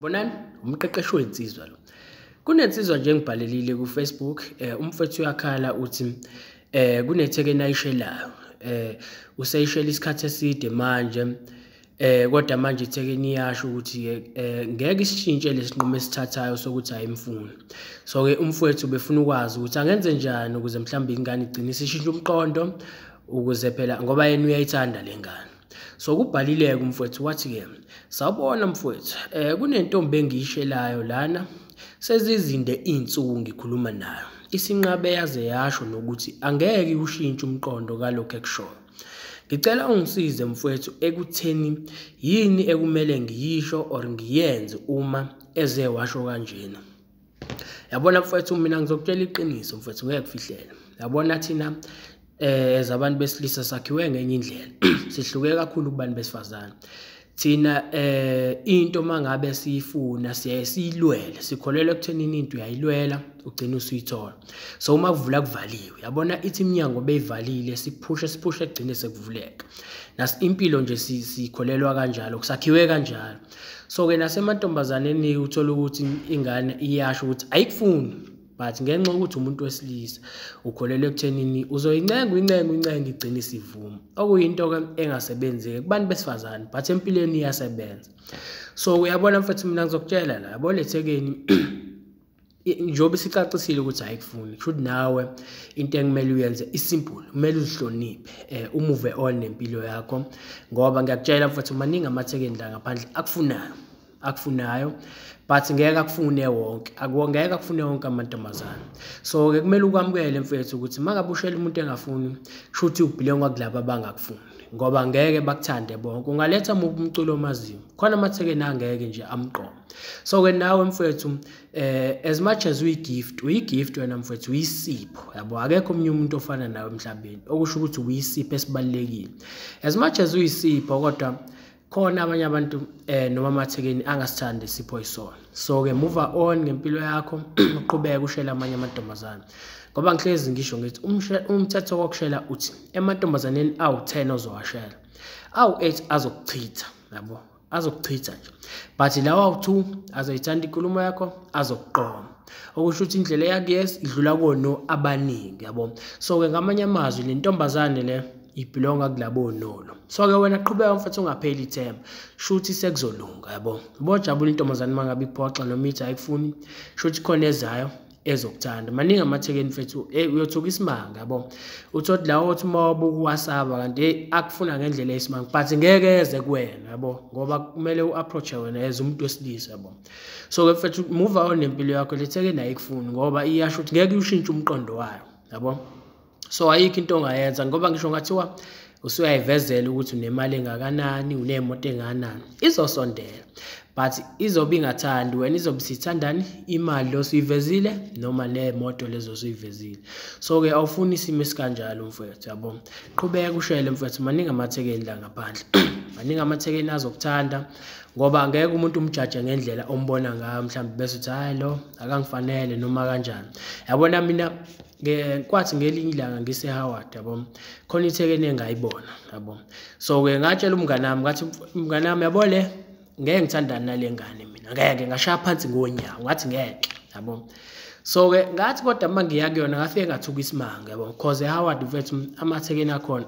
bonani umqeqeshi wensizwa lo kunensizwa nje ngibhalelile kufacebook um umfethu uyakhala uthi eh kunethekeni ayishelayo eh useyishela isikhathi eside manje eh kodwa manje ithekeni iyasho ukuthi eh ngeke isishintshe lesinqumo esithathayo sokuthi ayimfuni so ke umfowethu befuna ukwazi ukuthi angenze njani ukuze mhlawumbe ingane igcine isishintsha umqondo ukuze phela ngoba yena uyayithanda lengane so kubhalileke umfowethu wathi-ke sawubona mfowethu um kunentombi engiyishelayo lana sezizinde iy'nsuku ngikhuluma nayo isinqabe yaze yasho nokuthi angeke ushintshe umqondo kalokhu ekushoyo ngicela ungisize mfowethu ekutheni yini ekumele ngiyisho or ngiyenze uma eze washo kanjena yabona mfethu mina ngizokutshela iqiniso mfethu ngeke kufihlele yabona thina eh as abantu besilisa sakhiwe ngenye indlela sihluke kakhulu kubantu besifazane thina eh into mangabe siyifuna siyaye siyilwele sikholelwa ekuthenini into uyayilwela ugcina usuyithola so uma kuvula kuvaliwe yabona ithi iminyango beyivalile siphushe siphushe kugcine sekuvuleka nasi impilo nje sikholelwa kanjalo kusakhiwe kanjalo so ke nasemantombazaneni uthola ukuthi ingane iyasho ukuthi ayikufuni but ngenxa ukuthi umuntu wesilisa ukholelwa ekuthenini uzoyincenga uyincenga uyincenga igcine isivuma okuyinto ke engasebenzeki kubantu besifazane but empilweni iyasebenza so uyabona mfethu mina ngizokutshela la yabo lethekeni njengoba sicacisile ukuthi ayikufuni kusho ukuthi nawe into ekumele uyenze isimple kumele uzihloniphe eh umuve on nempilo yakho ngoba ngiyakutshela mfethu maningi amathekeni la ngaphandle akufunayo akufunayo but ngeke akufune wonke ngeke akufune wonke amantombazane so ke kumele ukwamukele mfethu ukuthi mangabe ushela umuntu engafuni kusho ukuthi ubhilengwa kulaba abangakufuni ngoba ngeke bakuthande bonke ungaletha umculo omaziyo khona amathekeni angeke nje amqomo so ke nawe mfethu eh as much as we gift we gift wena mfethu uyisipho yabo akekho omunye umuntu ofana nawe emhlabeni okusho ukuthi uyisipho esibalekile as much as uyisipho kodwa khona abanye abantu eh noma amathekeni angasithandi isipho isona so ke move on ngempilo yakho uqhubeke ushela amanye amantombazana ngoba ngihlezi ngisho ngithi umthetho wokushela uthi emantombazaneni awu-10 ozowashela awu-8 azokuchitha yabo azokuchitha nje but lawa u-two azoyithanda inkulumo yakho azokuqoma okusho ukuthi indlela eyakuyes idlula kono abaningi yabo so-ke ngamanye amazwi le ntombazane le ibhilonga kulabo nolo so-ke wena qhubeka mfethu ungapheli ithemba shuthi sekuzolunga yabo bojabula intombazane uma ngabe iphoxa noma ithi ayikufuni shuthi khona ezayo ezokuthanda maningi amathekeni mfethu hey uyothuka isimanga yabo uthothi la othi uma wabuka uwasaba kanti hey akufuna ngendlela esimanga but ngeke eze kuwena yabo ngoba kumele uapproach wena as umuntu wesilisa yabo so ke mfethu move on nempilo yakho lethekeni ayikufuni ngoba iyasho ukuthi ngeke ushintshe umqondo wayo yabo so ayikho into ongayenza ngoba ngisho ngathiwa usuyayivezela ukuthi unemali engakanani unemoto enganani izosondela but izobe ingathandi wena izobe sithandani imali lo suyivezile noma nemoto lezo suyivezile so ke awufuni isimo esikanjalo mfwethu yabo qhubeka ushele mfwethu maningi amathekeni la ngaphandle maningi amathekeni azokuthanda ngoba ngeke umuntu umjaje ngendlela ombona ngayo mhlawumbe bese uthi hayi lo akangifanele noma kanjani yabona mina kwathi ngelinye ilanga ngisehoward yabo khona ithekeni engayibona yabo so-ke ngatshela umngane wami ngathi mngane wami yabo le ngeke ngithandane nale ngane mina ngeke ngashaya phansi ngonyawo ngathi ngeke yabo so-ke ngathi kodwa uma ngiya kuyona ngafike ngathuka isimanga yabo cause ehoward mfethu amathekeni akhona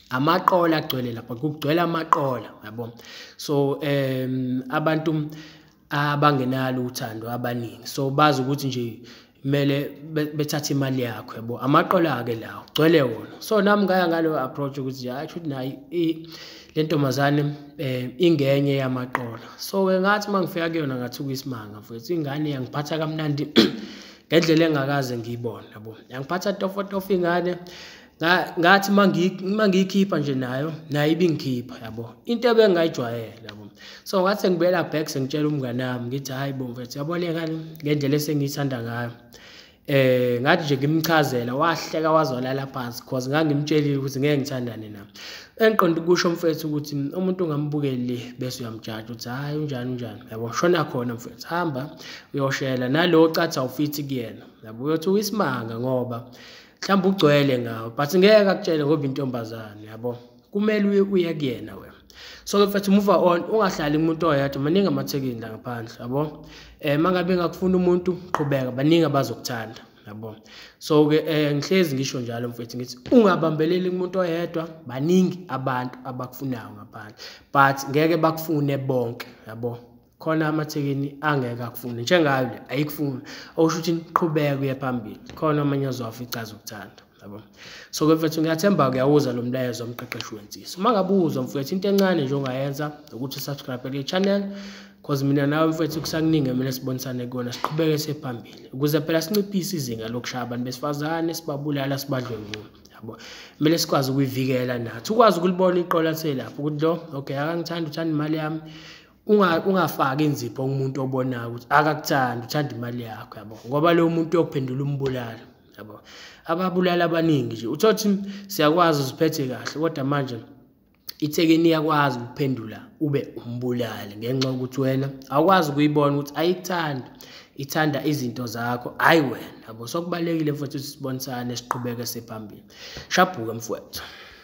amaqola agcwele lapha kugcwele amaqola yabo so um abantu abangenalo uthando abaningi so bazi ukuthi nje kumele bethathe imali yakho yabo amaqola-ke lawo gcwele wona so nami ngaya ngaleyo approach ukuthi hayi shuthi nayi le ntombazane um ingenye yamaqola so-ke ngathi uma ngifika kuyona ngathuka isimanga mfethu ingane yangiphatha kamnandi ngendlela engakaze ngiyibone yabo yangiphatha tofotofo ingane ngathi uma ngiyikhipha nje nayo nayo ibingikhipha yabo into ebengingayijwayele yabo so ngathi ngibuyela back sengitshela umngane wami ngithi hhayi bo mfethu yaboneka ngendlela esengiyithanda ngayo eh ngathi nje ngimchazela wahleka wazolala phansi cause ngangimtshelile ukuthi ngeke ngithandane na engiqonda ukusho mfethu ukuthi umuntu ungambukeli le bese uyamjaja ukuthi hayi unjani unjani yabo shona khona mfethu hamba uyoshela nalowo cathi awufithi kuyena yabo uyothi uyisimanga ngoba mhlawumbe ugcwele ngawo but ngeke akutshele ngoba intombazane yabo kumele uye uye kuyena wena so ke mfethu move on ungahlali umuntu oyedwa maningi amathekini la ngaphandle yabo um mangabe ngakufuna umuntu qhubeka baningi abazokuthanda yabo so ke um ngihlezi ngisho njalo mfethu ngithi ungabambeleli kumuntu oyedwa baningi abantu abakufunayo ngaphandle but ngeke bakufune bonke yabo khona amathekeni angeke akufune njengayo le ayikufuni okusho ukuthi niqhubeke kuye phambili khona omunye ozofa icaza ukuthanda yabo so ke mfethu ngiyathemba kuyawuza lo mlayezo omqeqeshi wensisi uma ngabe uzwa mfethu into encane nje ongayenza ukuthi subscribe kule channel cause mina nawe mfethu kusakuningi kumele sibonisane kuyona siqhubeke sephambili ukuze phela sinciphise izinga lokushaya abantu besifazane sibabulala sibadlwengula yabo kumele sikwazi ukuyivikela nathi ukwazi ukulibona iqola selapho ukuthi lo okay akangithandi uthanda imali yami ungafaki inzipho kumuntu obonayo ukuthi akakuthandi uthanda imali yakho yabo ngoba lowo muntu uyokuphendula umbulala yabo ababulala abaningi nje uthothi siyakwazi uziphethe kahle kodwa manje ithekeni iyakwazi ukuphendula ube umbulali ngenxa yokuthi wena awukwazi ukuyibona ukuthi ayikuthandi ithanda izinto zakho hhayi wena yabo sokubalulekile futhi ukuthi sibonisane siqhubeke siphambili shabhuke mfowethu